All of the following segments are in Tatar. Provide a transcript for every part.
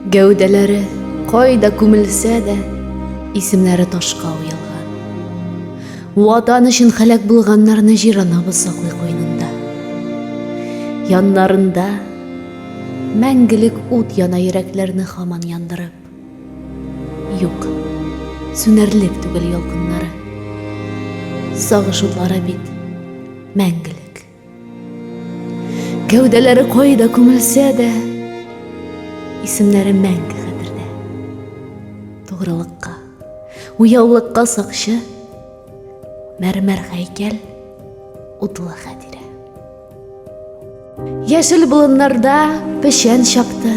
Гәүдәләре кайда күмелсә дә, исемнәре ташка уелган. Ватан өчен халәк булганнарны җиранабыз саклый куенында. Яннарында мәңгелек ут яна йөрәкләрне хаман яндырып. Юк, сүнәрлек түгел ялкыннары. Сагыш утлары бит мәңгелек. Кәүдәләре кайда күмелсә дә, исемнәре мәңге хәтердә. Тугрылыкка, уяулыкка сакчы, мәрмәр һәйкәл, утлы хәтирә. Яшел болыннарда печән чапты,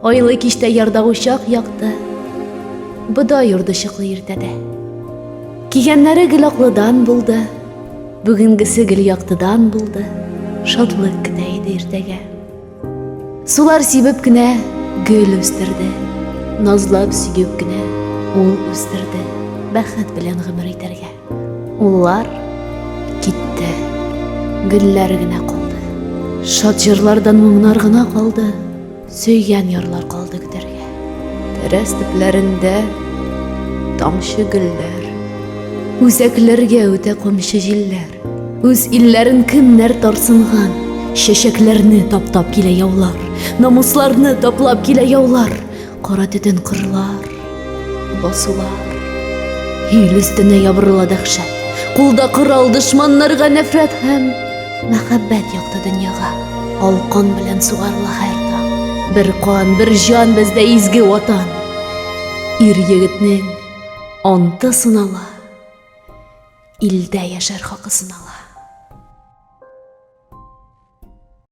айлы киштә ярда учак якты, бодай урды чыклы иртәдә. Кигәннәре гел аклыдан булды, Бүгенгесе гел яктыдан булды, шатлык көтә иде иртәгә. Сулар сибеп кенә гөл үстерде, назлап сөеп кенә ул үстерде, бәхет белән гомер итәргә. Уллар китте, гөлләр генә калды. Шат җырлардан моңнар гына калды. Сөйгән ярлар калды көтәргә. Тәрәз төпләрендә тамчы гөлләр. Үзәкләргә үтә комчы җилләр. Үз илләрен кемнәр тарсынган. Чәчәкләрне таптап килә яулар. Намусларны таплап килә яулар. Кара төтен кырлар. Басулар, ил өстенә ябырыла дәхшәт, кулда корал дошманнарга нәфрәт һәм мәхәббәт якты дөньяга алкан белән сугарыла һәр таң. Бер кан, бер җан бездә изге ватан. Ир егетнең анты сынала, илдә яшәр хакы сынала.